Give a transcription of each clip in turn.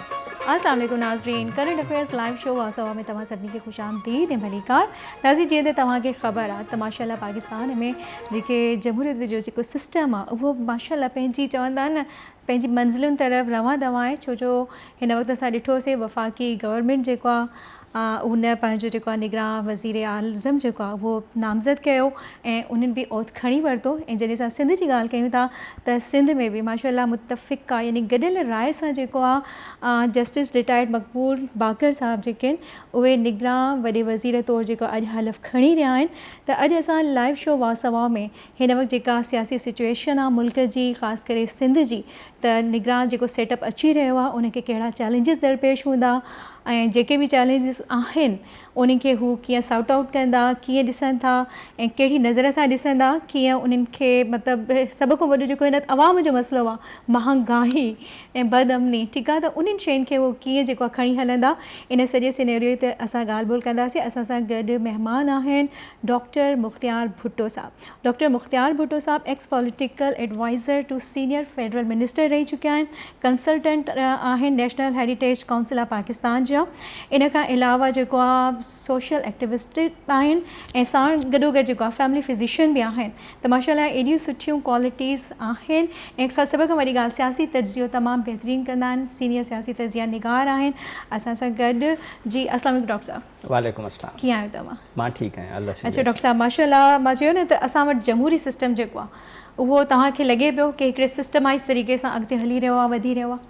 السلام عليڪم ناظرين ڪرنٽ افيئرز لائيو شو واسا ۾ توهان سڀني کي خوش آمديد ۽ ڀليڪار ناظرين جيئن ته توهان کي خبر آهي ته ماشاء الله پاڪستان ۾ جيڪي جمهوريت جو جيڪو سسٽم آهي اهو ماشاء الله پنهنجي چوندا آهن نه پنهنجي منزلن طرف روان دوان آهي ڇو جو هن وقت اسان ڏٺوسي وفاقي گورنمنٽ جيڪو آهي هن پنهنجو جيڪو آهي نگران وزيراعظم جيڪو آهي اهو نامزد ڪيو ۽ انهن به عهد کڻي ورتو ۽ جڏهن اسان سنڌ جي ڳالهه ڪيون ٿا ته سنڌ ۾ به ماشاء الله متفقه يعني گڏيل راء سان جيڪو آهي جسٽس رٽائرڊ مقبول باقر صاحب جيڪي آهن اهي نگران وڏي وزير طور جيڪو اڄ حلف کڻي رهيا آهن ته اڄ اسان لائيو شو واسوا ۾ هن وقت جيڪا سياسي سچوئيشن آ ملڪ جي خاص ڪري سنڌ جي ته نگران جيڪو سيٽ اپ اچي رهيو آ ان کي ڪهڙا چئلينجز درپيش هوندا ۽ جيڪي به چئلينجز آهن انهن کي هو ڪيئن سارٽ آئوٽ ڪندا ڪيئن ڏسن ٿا ۽ ڪهڙي نظر سان ڏسن ٿا ڪيئن انهن کي مطلب سڀ کان وڏو جيڪو هن عوام جو مسئلو آ مهانگاهي ۽ بد امني ٺيڪ آ ته انهن شين کي هو ڪيئن جيڪو آ کڻي هلندا ان سڄي سينيريو تي اسان ڳالهه ٻولهه ڪنداسين اسان سان گڏ مهمان آهن ڊاڪٽر مختيار ڀٽو صاحب، ڊاڪٽر مختيار ڀٽو صاحب ex political adviser to senior federal minister رهي چڪيا آهن، ڪنسلٽنٽ آهن national heritage council of Pakistan جا، ان کان علاوه جيڪو آ سوشل ايڪٽيوسٽ به آهن ۽ ساڻ گڏوگڏ جيڪو آ فيملي فزيشن به آهن ته ماشاء الله ايڏيون سٺيون ڪوالٽيز آهن ۽ سڀ کان وڏي ڳالهه سياسي تجزيو تمام بهترين ڪندا آهن، سينيئر سياسي تجزيا نگار آهن اسان سان گڏ، جي السلام عليڪم ڊاڪٽر صاحب. وعليڪم اسلام ڪيئن آهيو توهان مان ٺيڪ آهيان الله سي اچا ڊاڪٽر صاحب ماشاءالله مان چيو نه ته اسان وٽ جمهوري سسٽم جيڪو آهي اهو توهان کي لڳي پيو ڪي هڪڙي سسٽمائز طريقي سان اڳتي هلي رهيو آهي وڌي رهيو آهي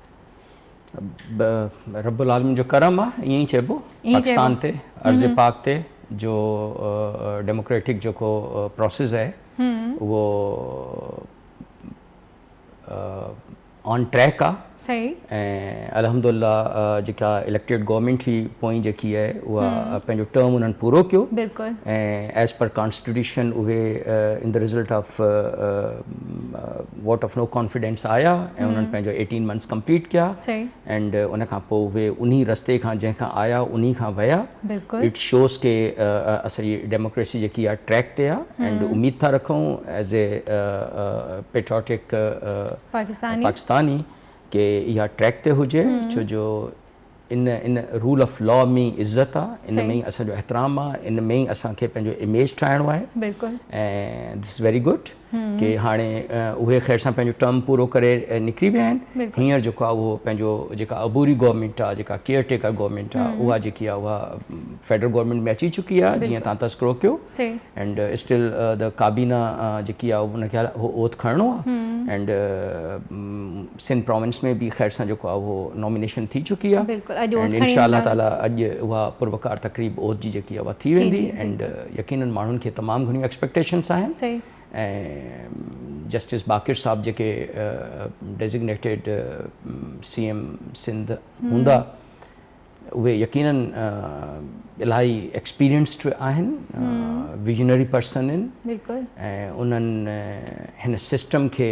رب العالمين جو ڪرم آ ائين ئي چئبو پاڪستان تي ارض پاڪ تي جو ڊيموڪريٽڪ جيڪو پروسيس آهي اهو آن ٽريڪ آ صحيح ۽ الحمدالله جيڪا اليڪٽيڊ گورنمينٽ هئي پوئين جيڪي آهي اها پنهنجو ٽرم انهن پورو ڪيو بلڪل ۽ ايز پر ڪانسٽيٽيوشن اهي in the result of vote of no confidence آيا ۽ انهن پنهنجو ايٽين منٿس ڪمپليٽ ڪيا صحيح ۽ ان کان پوء اهي انهي رستي کان جنهن کان آيا انهي کان ويا بلڪل. اٽ شوز ڪي اسان جي ڊيموڪريسي جيڪي آ ٽريڪ تي آ اينڊ اميد ٿا رکون ايز اي پيٽرياٽڪ پاڪستاني ڪي اها ٽريڪ تي هجي ڇو جو ان ان رول آف لا ۾ ئي عزت آ ان ۾ ئي اسان جو احترام آ ان ۾ ئي اسان کي پنهنجو اميج ٺاهڻو آهي بلڪل ۽ ڌس ويري گڊ. ڪي هاڻي اهي خير سان پنهنجو ٽرم پورو ڪري نڪري ويا آهن هينئر جيڪو آهي اهو پنهنجو جيڪا عبوري گورنمينٽ آهي جيڪا ڪيئر ٽيڪر گورنمينٽ آهي اها جيڪي آهي اها فيڊرل گورنمينٽ ۾ اچي چڪي آهي جيئن تان تذڪرو ڪيو اينڊ اسٽل ڪابينا جيڪي آهي ان کي اوٿ کڻڻو آهي اينڊ سنڌ پراونس ۾ به خير سان جيڪو آهي اهو نامينيشن ٿي چڪي آهي بلڪل اڄ اوٿ کڻي ويندا انشاءالله تعالي اڄ اها پروقار تقريب اوٿ جي جيڪي آهي اها ٿي ويندي اينڊ يقينن ماڻهن کي تمام گهڻيون ايڪسپيڪٽيشنس آهن صحيح ۽ جسٽس باقر صاحب جيڪي ڊيزگنيٽيڊ سي ايم سنڌ هوندا اهي يقينن الاهي ايڪسپيرينسڊ آهن ويجنري پرسن آهن بلڪل ۽ انهن هن سسٽم کي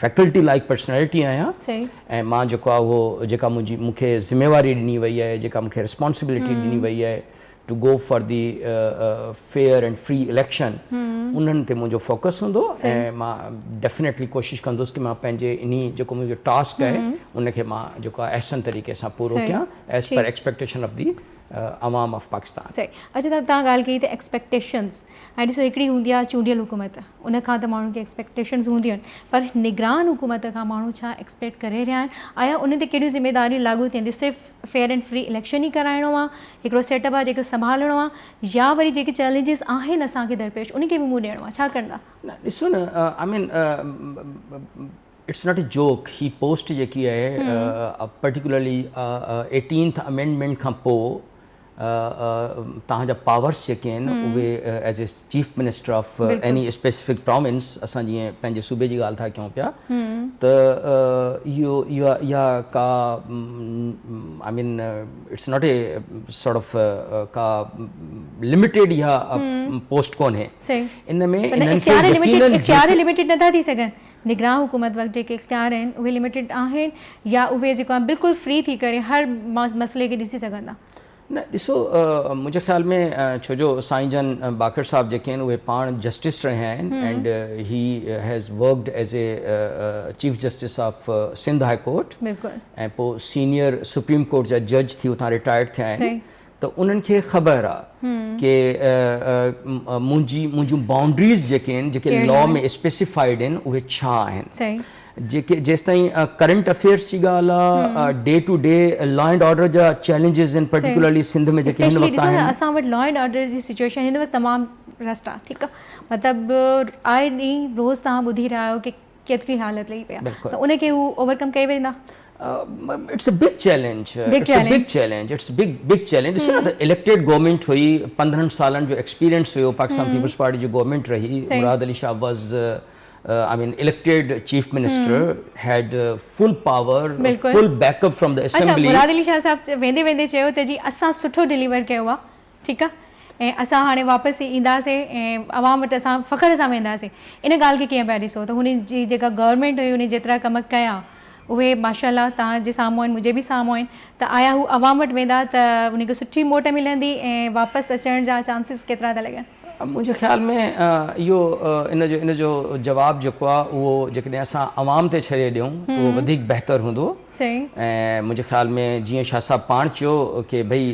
فيڪلٽي لائيڪ پرسنالٽي آهيان ۽ مان جيڪو آهي اهو جيڪا منهنجي مون کي ذميواري ڏني وئي آهي جيڪا مون کي رسپانسبلٽي ڏني وئي آهي to go for the fair and free election انهن تي منهنجو فوڪس هوندو ۽ مان ڊيفنيٽلي ڪوشش ڪندس ته مان پنهنجي انهي جيڪو منهنجو ٽاسڪ آهي ان کي مان جيڪو آهي احسن طريقي سان پورو ڪيان as per expectation of the عوام آف پاڪستان صحيح اڇا تان ڳالهه ڪئي ته ايڪسپيڪٽيشنز هاڻي ڏسو هڪڙي هوندي آهي چونڊيل حڪومت ان کان ته ماڻهن کي ايڪسپيڪٽيشنز هونديون آهن پر نگران حڪومت کان ماڻهو ڇا ايڪسپيڪٽ ڪري رهيا آهن آيا انهن تي ڪهڙيون ذميداريون لاڳو ٿين ٿيون صرف فيئر اينڊ فري اليڪشن ئي ڪرائڻو آهي هڪڙو سيٽ اپ آهي جيڪو سنڀالڻو آهي يا وري جيڪي چئلينجز آهن اسان کي درپيش ان کي به منهن ڏيڻو آهي ڇا ڪندا نه ڏسو نه I mean it's not a joke هي پوسٽ جيڪي آهي پرٽيڪولرلي ايٽينٿ امينڊمينٽ کان پوء توهان جا پاورس جيڪي آهن اهي as a chief minister of any specific province اسان جيئن پنهنجي صوبي جي ڳالهه ٿا ڪيون پيا ته اهو اها ڪا I mean it's not a sort of ڪا لميٽيڊ اها پوسٽ ڪونهي ان ۾ اختيار لميٽيڊ نٿا ٿي سگهن نگران حڪومت وٽ جيڪي اختيار آهن اهي لميٽيڊ آهن يا اهي جيڪو آهن بلڪل فري ٿي ڪري هر مسئلي کي ڏسي سگهن ٿا؟ نه ڏسو منهنجي خيال ۾ ڇو جو سائين جان باقر صاحب جيڪي آهن اهي پاڻ جسٽس رهيا آهن and he has worked as a chief justice of Sindh high court ۽ پوء سينيئر سپريم ڪورٽ جا جج ٿي اتان رٽائرڊ ٿيا آهن ته انهن کي خبر آ ڪي منهنجي منهنجون بائونڊريز جيڪي آهن جيڪي لا ۾ اسپيسيفائيڊ آهن اهي ڇا آهن جيڪي جيستائين ڪرنٽ افيئرس جي ڳالهه آ day to day law and order جا چئلينجز آهن پرٽيڪولرلي سنڌ ۾ جيڪي هن وقت آهن اسپيشلي اسان وٽ لا اينڊ آرڊر جي سچويشن هن وقت تمام رسٽ آ ٺيڪ آ مطلب آئي ڏينهن روز تهان ٻڌي رهيا آهيو ڪي ڪيتري حالت لهي پئي آهي ته ان کي هو اوور ڪم ڪئي ويندا. It's a big challenge it's a big challenge it's a big big challenge ڏسو ته اليڪٽيڊ گورنمينٽ هئي پندرهن سالن جو ايڪسپيرينس هيو پاڪستان پيپلز پارٽي جي گورنمينٽ رهي Murad Ali Shah was I mean elected chief minister had full power full backup from the assembly Murad Ali Shah Sahib ويندي ويندي چيو ته جي اسان سٺو ڊليور ڪيو آهي ٺيڪ آ ۽ اسان هاڻي واپس اينداسين ۽ عوام وٽ اسان فخر سان وينداسين ان ڳالهه کي ڪيئن پيا ڏسو ته هن جي جيڪا گورنمينٽ هئي ان جيترا ڪم ڪيا اهي ماشاء الله توهان جي سامهون آهن منهنجي به سامهون آهن ته آيا هو عوام وٽ ويندا ته انهن کي سٺي موٽ ملندي ۽ واپس اچڻ جا چانسز ڪيترا ٿا لڳن؟ منهنجي خيال ۾ اهو ان جو ان جو جواب جيڪو آ اهو جيڪڏهن اسان عوام تي ڇڏي ڏيون اهو وڌيڪ بهتر هوندو. چيائين. ۽ منهنجي خيال ۾ جيئن شاهه صاحب پاڻ چيو ڪي ڀئي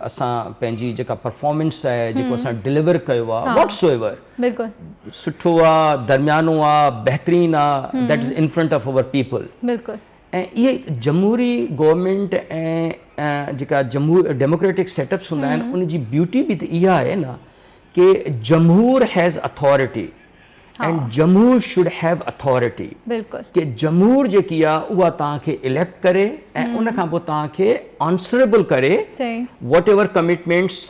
اسان پنهنجي جيڪا پرفارمنس آهي جيڪو اسان ڊليور ڪيو آهي واٽس ايور سٺو آ درميانو آ بهترين آ that is in front of our people ۽ اهي جمهوري گورنمينٽ ۽ جيڪا جمهور ڊيموڪريٽڪ سيٽ اپس هوندا آهن ان جي بيوٽي به ته اها آهي نه ڪي جمهور هيز اٿارٽي اينڊ جمهور شوڊ هيو اٿارٽي ڪي جمهور جيڪي آ اها توهان کي اليڪٽ ڪري ۽ ان کان پوء توهان کي آنسريبل ڪري whatever commitments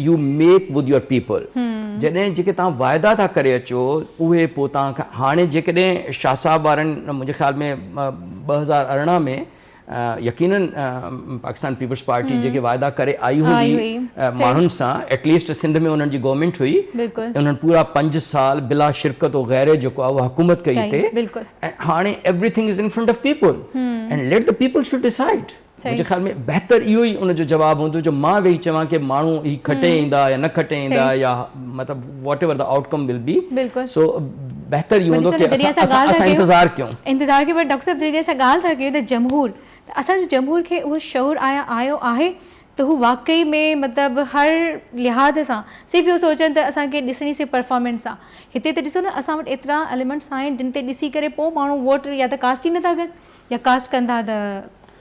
you make with your people جڏهن جيڪي توهان واعدا ٿا ڪري اچو اهي پوء توهان کي هاڻي جيڪڏهن شاهه صاحب وارن منهنجي خيال ۾ ٻه هزار ارڙهن ۾ يقينن پاڪستان پيپلز پارٽي جيڪي واعدا ڪري آئي هئي ماڻهن سان ايٽ ليسٽ سنڌ ۾ انهن جي گورنمينٽ هئي انهن پورا پنج سال بلا شرڪت و غيره جيڪو آهي اها حڪومت ڪئي هتي ۽ هاڻي everything is in front of people and let the people should decide منهنجي خيال ۾ بهتر اهو ئي ان جو جواب هوندو جو مان ويهي چوان ڪي ماڻهو هي کٽي ايندا يا نه کٽي ايندا يا مطلب whatever they outcome will be so بهتر اهو هوندو ڪي اسان انتظار ڪيون. انتظار ڪيون پر ڊاڪٽر صاحب جڏهن اسان ڳالهه ٿا ڪيون ته جمهور ته اسان جو جمهور کي اهو شعور آيا آيو آهي ته هو واقعي ۾ مطلب هر لحاظ سان صرف اهو سوچن ته اسان کي ڏسڻي صرف پرفارمنس آ هتي ته ڏسو نه اسان وٽ ايترا اليمنٽس آهن جن تي ڏسي ڪري پوء ماڻهو ووٽ يا ته ڪاسٽ ئي نه ٿا ڪن يا ڪاسٽ ڪن ٿا ته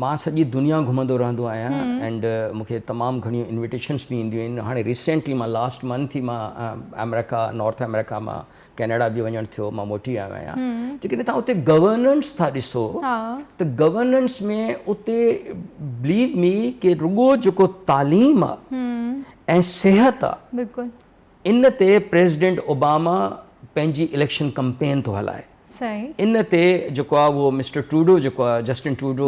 مان سڄي دنيا گهمندو رهندو آهيان اينڊ مون کي تمام گهڻيون انويٽيشنس به اينديون آهن هاڻي ريسينٽلي مان لاسٽ منٿ ئي مان آمريڪا نارٿ آمريڪا مان ڪينيڊا به وڃڻ ٿيو مان موٽي آيو آهيان جيڪڏهن توهان اتي گورننس ٿا ڏسو ته گورننس ۾ اتي بليو مي ڪي رڳو جيڪو تعليم آهي ۽ صحت آهي ان تي پريزيڊنٽ اوباما پنهنجي اليڪشن ڪمپين ٿو هلائي. ان تي جيڪو آهي اهو مسٽر ٽروڊو جيڪو آهي جسٽن ٽروڊو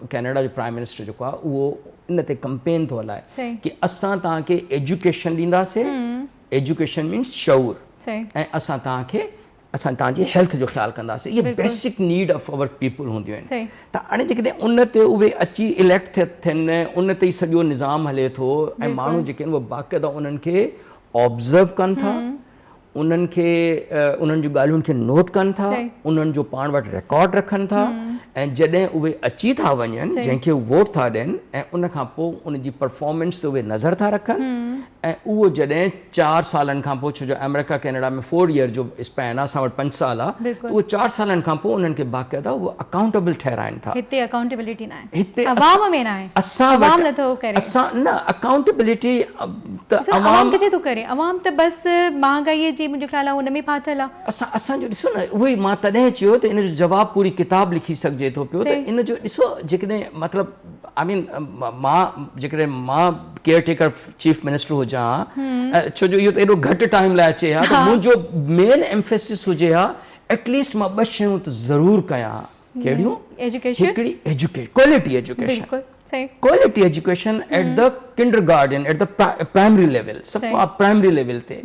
ڪينيڊا جو پرائيم منسٽر جيڪو آهي اهو ان تي ڪمپين ٿو هلائي ڪي اسان توهان کي ايجوڪيشن ڏينداسي ايجوڪيشن مينس شعور ۽ اسان توهان کي اسان توهان جي هيلٿ جو خيال ڪنداسين اهي basic need of our people هونديون آهن ته هاڻي جيڪڏهن ان تي اهي اچي اليڪٽ ٿيا ٿين ان تي ئي سڄو نظام هلي ٿو ۽ ماڻهو جيڪي آهن اهي باقاعده انهن کي آبزرو ڪن ٿا انهن کي انهن جون ڳالهيون کي نوٽ ڪن ٿا انهن جو پاڻ وٽ رڪارڊ رکن ٿا ۽ جڏهن اهي اچي ٿا وڃن جنهن کي ووٽ ٿا ڏين ۽ ان کان پوء ان جي پرفارمنس تي اهي نظر ٿا رکن ۽ اهو جڏهن چار سالن کان پوء ڇو جو آمريڪا ڪينيڊا ۾ فور ييئر جو اسپين آهي اسان وٽ پنج سال آهي ته اهو چار سالن کان پوء انهن کي باقاعده اهو اڪائونٽيبل ٺهرائين ٿا. هتي اڪائونٽيبلٽي ناهي. هتي عوام ۾ ناهي. اسان وٽ عوام نٿو ڪري. اسان نه اڪائونٽيبلٽي ته سر عوام ڪٿي ٿو ڪري عوام ته بس مهانگائي جي منهنجو خيال آهي ان ۾ ڦاٿل آهي. اسان اسان جو ڏسو نه اهو ئي مان تڏهن چيو ته ان جو جواب پوري ڪتاب لکي سگهجي ٿو پيو ته ان جو ڏسو جيڪڏهن مطلب آئي مين مان جيڪڏهن مان ڪيئر ٽيڪر چيف منسٽر هجان ها ڇو جو اهو ته ايڏو گهٽ ٽائيم لاء اچي ها ته منهنجو مين ايمفيسس هجي ها ايٽ ليسٽ مان ٻه شيون ته ضرور ڪيان ها ڪهڙيون هڪڙي education quality education quality education at the kindergarten at the primary level سب کان پرائمري ليول تي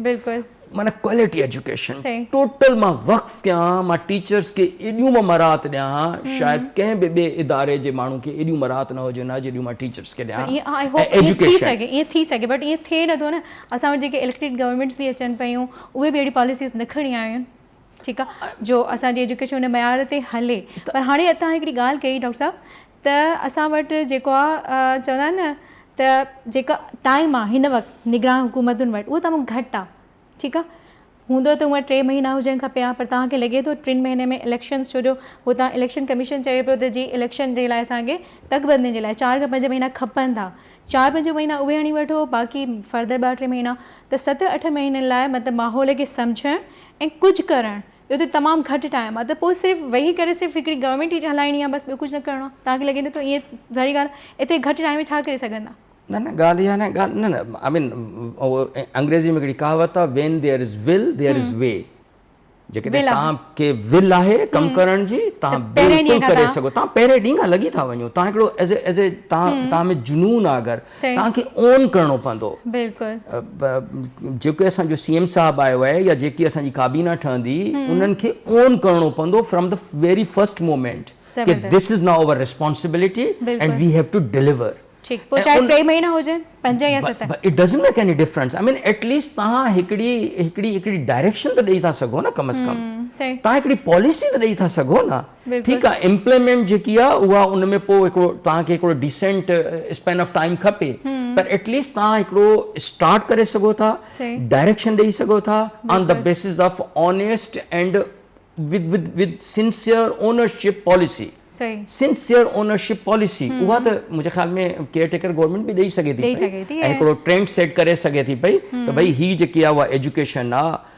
معنيٰ ڪوالٽي ايجوڪيشن ٽوٽل مان وقف ڪيان، مان ٽيچرس کي ايڏيون مان مراعات ڏيان ها شايد ڪنهن به ٻئي اداري جي ماڻهو کي ايڏيون مراعات نه هجن ها جيڏيون مان ٽيچرس کي ڏيان ها ۽ ايجوڪيشن. ائين ٿي سگهي بٽ ائين ٿئي نٿو نه اسان وٽ جيڪي اليڪٽيڊ گورنمينٽس به اچن پيون اهي به اهڙي پاليسيز نه کڻي آيون ٺيڪ آهي جو اسان جي ايجوڪيشن ان معيار تي هلي پر هاڻي اتان هڪڙي ڳالهه ڪئي ڊاڪٽر صاحب ته اسان وٽ جيڪو آ چوندا آهن نه ته جيڪا ٽائيم آ هن وقت نگران حڪومتن وٽ اهو تمام گهٽ آ ٺيڪ آ هوندو ته هونئن ٽي مهينا هجڻ کپي ها پر توهان کي لڳي ٿو ٽن مهينن ۾ اليڪشنز ڇو جو هتان اليڪشن ڪميشن چئي پيو ته جي اليڪشن جي لاء اسان کي تڪ بندين جي لاء چار کان پنج مهينا کپن ٿا چار پنج مهينا اهي هڻي وٺو باقي فردر ٻه ٽي مهينا ته ست اٺ مهينن لاء مطلب ماحول کي سمجهڻ ۽ ڪجهه ڪرڻ اهو ته تمام گهٽ ٽائيم آهي ته پوء صرف ويهي ڪري صرف هڪڙي گورنمينٽ ئي هلائڻي آهي بس ٻيو ڪجهه نه ڪرڻو آهي توهان کي لڳي ٿو ته ائين ظاهري ڳالهه آهي ايتري گهٽ ٽائيم ۾ ڇا ڪري سگهندا. نه نه ڳالهه اها ناهي ڳالهه نه نه آء مين انگريزي ۾ هڪڙي ڪهاوت آهي when there is will there is way جيڪڏهن توهان کي ول آهي ڪم ڪرڻ جي توهان بلڪل ڪري سگهو ٿا پهرين ڏينهن کان لڳي ٿا وڃو توهان هڪڙو ايز اي ايز اي توهان ۾ جنون آهي اگر توهان کي اون ڪرڻو پوندو. جيڪو اسان جو سي ايم صاحب آيو آهي يا جيڪي اسان جي ڪابينا ٺهندي انهن کي اون ڪرڻو پوندو from the very first moment ڪي this is now our responsibility and we have to deliver. پوء چاهي ٽي مهينا هجن پنج يا ست. It doesn't make any difference I mean at least توهان هڪڙي هڪڙي هڪڙي ڊائريڪشن ته ڏئي ٿا سگهو نه ڪم از ڪم توهان هڪڙي پاليسي ته ڏئي ٿا سگهو نه. بلڪل. ٺيڪ آ امپليمينٽ جيڪي آ اها ان ۾ پوء هڪڙو توهان کي هڪڙو ڊيسينٽ اسپين آف ٽائيم کپي پر ايٽ ليسٽ توهان هڪڙو اسٽارٽ ڪري سگهو ٿا صحيح. ڊائريڪشن ڏئي سگهو ٿا آن دا بلڪل. Basis of honest and with with with sincere ownership policy صحيح. سنسيئر اونرشپ پاليسي اها ته منهنجي خيال ۾ ڪيئر ٽيڪر گورنمينٽ به ڏئي سگهي ٿي ڏئي پئي سگهي ٿي ۽ ۽ هڪڙو ٽرينڊ سيٽ ڪري سگهي ٿي پئي ته ڀئي هي جيڪي آ اها ايجوڪيشن آ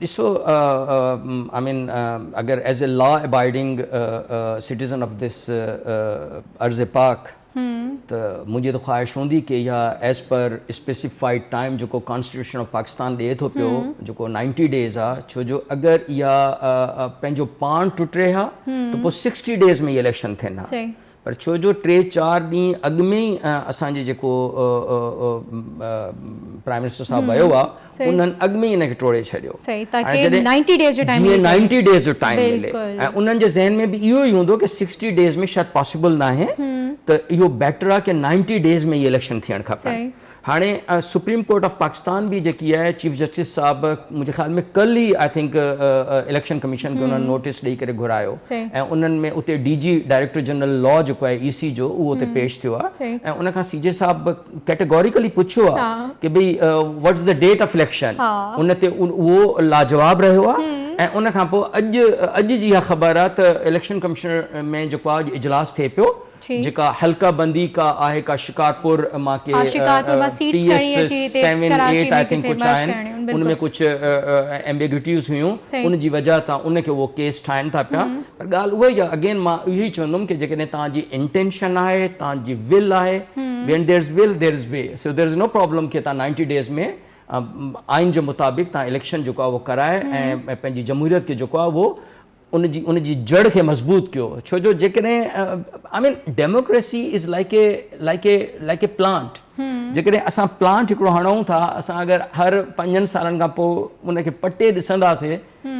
ڏسو آء مين اگر as a law abiding citizen of this ارض پاڪ ته منهنجي ته خواهش هوندي ڪي اها ايز پر اسپيسيفائيڊ ٽائيم جيڪو ڪانسٽيٽيوشن آف پاڪستان ڏئي ٿو پيو جيڪو نائنٽي ڊيز آ ڇو جو اگر اها پنهنجو پاڻ ٽٽي ها ته پوء سڪسٽي ڊيز ۾ اهي اليڪشن ٿين ها پر ڇو جو ٽي چار ڏينهن اڳ ۾ ئي اسان جي جيڪو پرائم منسٽر صاحب ويو آ انهن اڳ ۾ ئي ان کي ٽوڙي ڇڏيو جيئن نائنٽي ڊيز جو ٽائيم ملي ۽ انهن جي ذهن ۾ به اهو ئي هوندو ڪي سڪسٽي ڊيز ۾ شايد پاسبل ناهي ته اهو بيٽر آ ڪي نائنٽي ڊيز ۾ ئي اليڪشن ٿيڻ کپن. هاڻي سپريم ڪورٽ آف پاڪستان به جيڪي آهي چيف جسٽس صاحب منهنجي خيال ۾ ڪل ئي آء ٿنڪ اليڪشن ڪميشن کي انهن نوٽيس ڏئي ڪري گهرايو ۽ انهن ۾ اتي D G director general law جيڪو آهي اي سي جو اهو اتي پيش ٿيو آهي ۽ ان کان سي جي صاحب ڪيٽيگوريڪلي پڇيو آهي ڪي ڀئي what is the date of election ان تي اهو لاجواب رهيو آهي ۽ ان کان پوء اڄ اڄ جي اها خبر آهي ته اليڪشن ڪميشن ۾ جيڪو آهي اڄ اجلاس ٿئي پيو جيڪا حلقه بندي ڪا آهي ڪا شڪارپور مان ڪي T S seven eight I think ڪجهه آهن ان ۾ ڪجهه ايمبيگوٽيز هيون ان جي وجهه تان ان کي اهو ڪيس ٺاهين ٿا پيا پر ڳالهه اها ئي آهي اگين مان اهو ئي چوندم ڪي جيڪڏهن توهان جي انٽينشن آهي توهان جي ول آهي when there is will there is way so there is no problem ڪي توهان نائنٽي ڊيز ۾ آئين جي مطابق توهان اليڪشن جيڪو آهي اهو ڪرائي ۽ پنهنجي جمهوريت کي جيڪو آهي اهو ان جي ان جي جڙ کي مضبوط ڪيو ڇو جو جيڪڏهن I mean democracy is like a like a like a plant جيڪڏهن اسان پلانٽ هڪڙو هڻون ٿا اسان اگر هر پنجن سالن کان پوء ان کي پٽي ڏسنداسي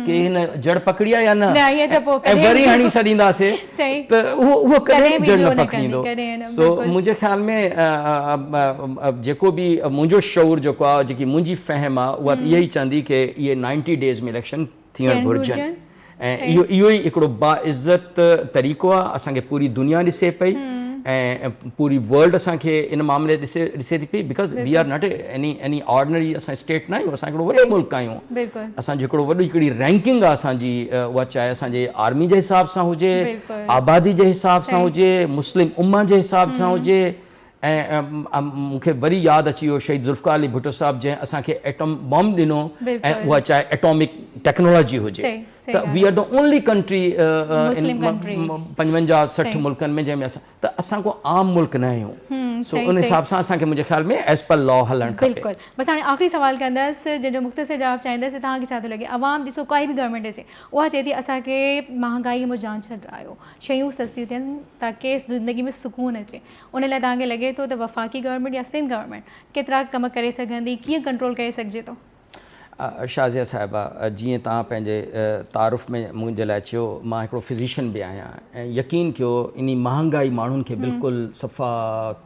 ڪي هن جڙ پکڙي آهي يا نه ۽ وري هڻي ڇڏينداسي ته اهو اهو ڪڏهن به جڙ نه پکڙيندو سو منهنجي خيال ۾ جيڪو به منهنجو شعور جيڪو آهي جيڪي منهنجي فهم آهي اها اها ئي چوندي ڪي اهي نائنٽي ڊيز ۾ اليڪشن ٿيڻ گهرجن ۽ اهو ئي هڪڙو باعزت طريقو آهي اسان کي پوري دنيا ڏسي پئي ۽ پوري ورلڊ اسان کي ان معاملي ڏسي ٿي پئي because we are not any ordinary اسان اسٽيٽ ناهيون اسان هڪڙو وڏو ملڪ آهيون اسان جو هڪڙو وڏو هڪڙي رينڪنگ آهي اسان جي اها چاهي اسان جي آرمي جي حساب سان هجي آبادي جي حساب سان هجي مسلم اما جي حساب سان هجي ۽ مون کي وري ياد اچي ويو شهيد ذوالفقار علي ڀٽو صاحب جنهن اسان کي ايٽم بامب ڏنو ۽ اها چاهي ايٽامڪ ٽيڪنالاجي هجي ته we are the only country پنجونجاهه سٺ ملڪن ۾ جنهن ۾ اسان ته اسان ڪو عام ملڪ نه آهيون سو ان حساب سان اسان کي منهنجي خيال ۾ ايز پر لا هلڻ کپي بلڪل بس هاڻي آخري سوال ڪندس جنهن جو مختصر جواب چاهيندس ته توهان کي ڇا ٿو لڳي عوام ڏسو ڪائي به گورنمينٽ اچي اها چئي ٿي اسان کي مهانگائي مون جان ڇڏرايو شيون سستيون ٿين تاڪي زندگي ۾ سڪون اچي ان لاء توهان کي لڳي ٿو ته وفاقي گورنمينٽ يا سنڌ گورنمينٽ ڪيترا ڪم ڪري سگهندي، ڪيئن ڪنٽرول ڪري سگهجي ٿو؟ شازيه صاحبه جيئن توهان پنهنجي تعارف ۾ منهنجي لاء چيو مان هڪڙو فزيشن به آهيان ۽ يقين ڪيو انهي مهانگائي ماڻهن کي بلڪل صفا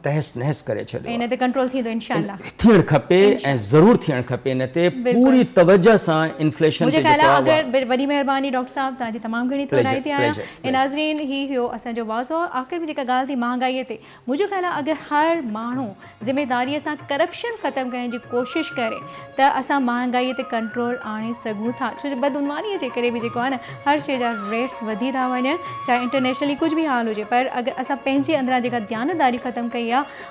تهس نهس ڪري ڇڏيو آهي. ان تي ڪنٽرول ٿيندو انشاء الله. ٿيڻ کپي ۽ ضرور ٿيڻ کپي ان تي پوري توجه سان انفليشن تي جيڪو آهي اها. منهنجي خيال ۾ اگر وڏي مهرباني ڊاڪٽر صاحب توهان جي تمام گهڻي ٿورائتي آهيان. ناظرين هي هيو اسان جو واضع آخر ۾ جيڪا ڳالهه ٿي مهانگائي تي منهنجو خيال آهي اگر هر ماڻهو ذميداري سان ڪرپشن ختم ڪرڻ جي ڪوشش ڪري ته اسان مهانگائي تي ڪنٽرول آڻي سگهون ٿا ڇو جو بدعنواني جي ڪري به جيڪو آهي نه هر شي جا ريٽس وڌي ٿا وڃن چاهي انٽرنيشنلي ڪجهه به حال هجي پر اگر اسان پنهنجي اندران جيڪا ديانتداري ختم ڪئي آهي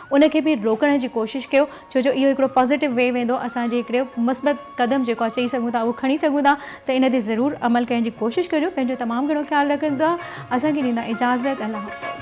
ان کي به روڪڻ جي ڪوشش ڪيو ڇو جو اهو هڪڙو پازيٽو وي ويندو اسان جي هڪڙو مثبت قدم جيڪو آ چئي سگهون ٿا اهو کڻي سگهون ٿا ته ان تي ضرور عمل ڪرڻ جي ڪوشش ڪجو پنهنجو تمام گهڻو خيال رکجو دعا اسان کي ڏيندا اجازت الله حافظ.